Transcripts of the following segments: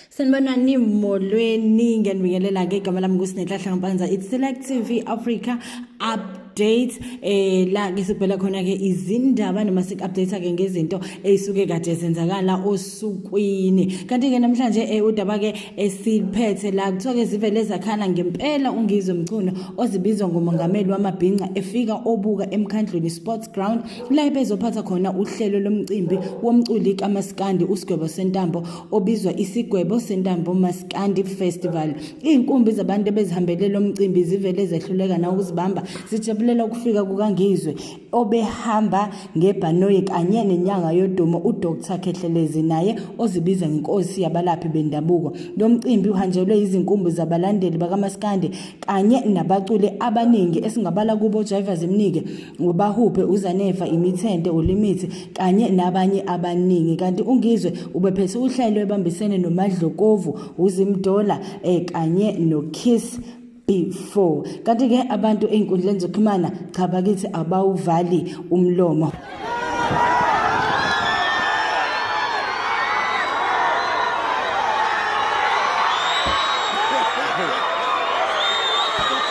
sanibona nimolweni ngiyanibingelela-ke igama lami kusinehlahla ngampanza it's select tv africa up update eh la ke sibhela khona ke izindaba noma sik update ke ngezinto ezisuke kade zenzakala osukwini kanti ke namhlanje eh udaba ke esiphethe la kuthiwa ke zivele zakhala ngempela ungizwe mchunu ozibizwa ngomongameli wamabhinca efika obuka emkhandlweni sports ground la bezophatha khona uhlelo lomcimbi womculi kamaskandi usigwebo sentambo obizwa isigwebo sentambo maskandi festival iy'nkumbi zabantu ebezihambele lo mcimbi zivele zehluleka nawukuzibamba zijabulela ukufika kukangizwe obehamba ngebhanoyi kanye nenyanga yodumo udr khehlelezi naye ozibiza ngenkosi yabalaphi bendabuko lo mcimbi uhanjelwe yizinkumbi zabalandeli bakamaskandi kanye nabaculi abaningi esingabala kubo jaiva zimnike ngobahuphe uzanefa imithente ulimithi kanye nabanye abaningi kanti ungizwe ubephethe uhlelo ebambisene nomadlokovu uzimdola eh, kanye nokiss before kanti-ke abantu ey'nkundleni zokuxhumana cha bakithi abawuvali umlomo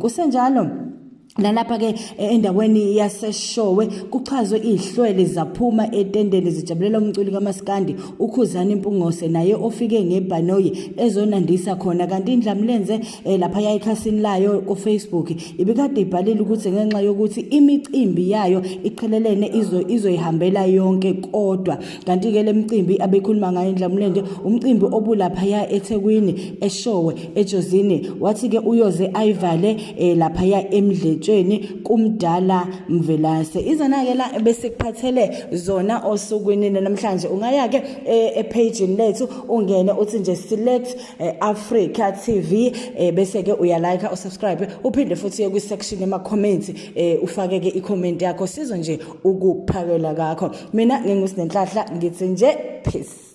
kusenjalo nalapha ke e, endaweni yaseshowe kuchazwe ihlwele zaphuma etendeni zijabulela umculi kamaskandi ukhuzana impungose naye ofike ngebhanoyi ezonandisa khona kanti indlamlenze eh lapha yayikhasini layo ku Facebook ibikade ibhalile ukuthi ngenxa yokuthi imicimbi yayo iqhelelene izo izoyihambela yonke kodwa kanti ke lemcimbi abekhuluma ngayo indlamulende umcimbi obulapha ya eThekwini eShowe eJozini wathi ke uyoze ayivale eh lapha ya emdletshweni kumdala Mvelase izona ke la bese kuphathele zona osukwini namhlanje ungaya ke eh, e page lethu ungene uthi nje select eh, Africa TV eh, bese ke uya like u subscribe uphinde futhi uye kwi section yama comments eh, ufake ke i comment yakho sizo nje ukuphakela kakho mina ngingusinenhlahla ngithi nje peace